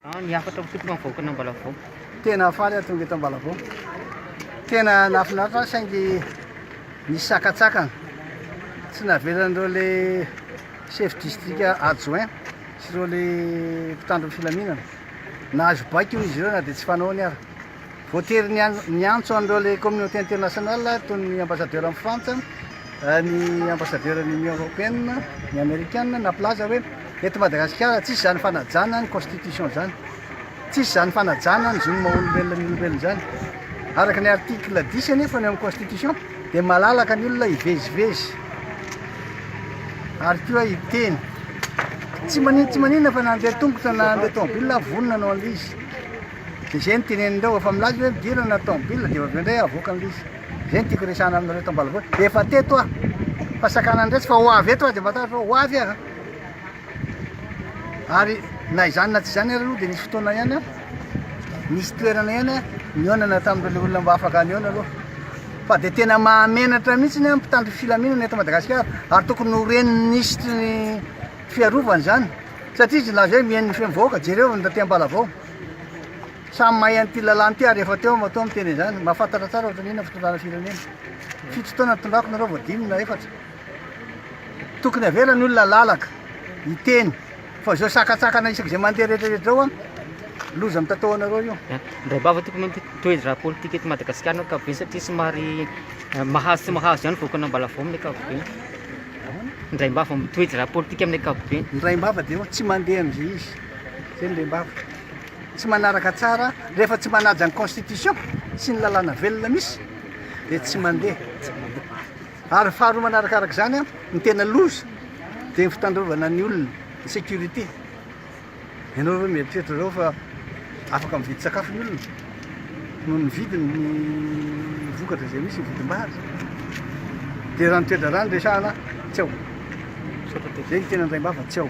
An ny hafatra misotro fa mivaoka an'Ambalavao. Tena faly aho tonga eto Ambalavao. Tena nahafinaritra saingy nisy sakatsakana. Tsy navelan'ireo le chef district adjoint sy ireo le mpitandro ny filaminana. Nahazo baiko hoy izy ireo na dia tsy fanao ny ara. Voatery niantso an'ireo ilay communauté internationale toy ny ambassadeur an'i Frantsa, ny ambassadeur ny Union Européenne, ny Amerikana nampilaza hoe eto Madagasikara tsisy izany fanajana ny constitution izany. Tsisy izany fanajana ny zon'ny maha-olombelona ny olombelona izany. Araka ny article 10 anefa ny amin'ny constitution dia malalaka ny olona hivezivezy ary koa hiteny. Tsy manin tsy maninona fa na handeha tongotra na handeha tomobile vonona no an'izy. Dia izay no tenenin'ireo efa milaza hoe midirana ny taomobilina dia avy eo indray avoaka ny lisy. Izay no tiako hiresahana aminareo eto ambalavoatra. Dia efa teto aho. Fa sakana ny resy fa ho avy eto aho dia matahotra hoe ho avy aho. Ary na izany na tsy izany ary aloha dia nisy fotoana ihany aho. Nisy toerana ihany aho nionana tamin'ireo olona mba afaka nihaona aloha. Fa dia tena mahamenatra mihitsy ny mpitandro filaminana eto Madagasikara ary tokony ho ren'ny minisitry ny fiarovana izany. Satria izy nilaza hoe mihaino ny feom-bahoaka, jereo ny raha te-hambalavao. Samy mahay an'ity lalàna ity ary efa teo aho matoa miteny izany. Mahafantatra tsara ohatrany inona fitondrana firenena. Fito taona nitondrako nareo vao dimy na efatra. Tokony avela ny olona lalaka, hiteny. Fa izao sakatsakana isaky izay mandeha rehetra rehetra izao an, loza mitatao anareo io. Ndray bava tiko mety toedraha politika eto Madagasikara no akabe satria somary eh, mahazo tsy mahazo ihany voakana mbalavao amin'ny akabe. Ndray bava mitoedraha politika amin'ny akabe. Ndray bava dia tsy mandeha amin'izay izy. Zay ny rembavy tsy manaraka tsara rehefa tsy manaja ny constitution sy ny lalàna velona misy dia tsy mandeha ary faharoa manarakaraka izany a ny tena loza dia ny fitandrovana ny olona ny sécurité ianao reo mieritreritra zao fa afaka mividy sakafo ny olona noho ny vidin'ny vokatra izay misy ny vidim-bary dia raha ny toe-draharaha no resahana tsy ao dia ny tena andraim-bava tsy ao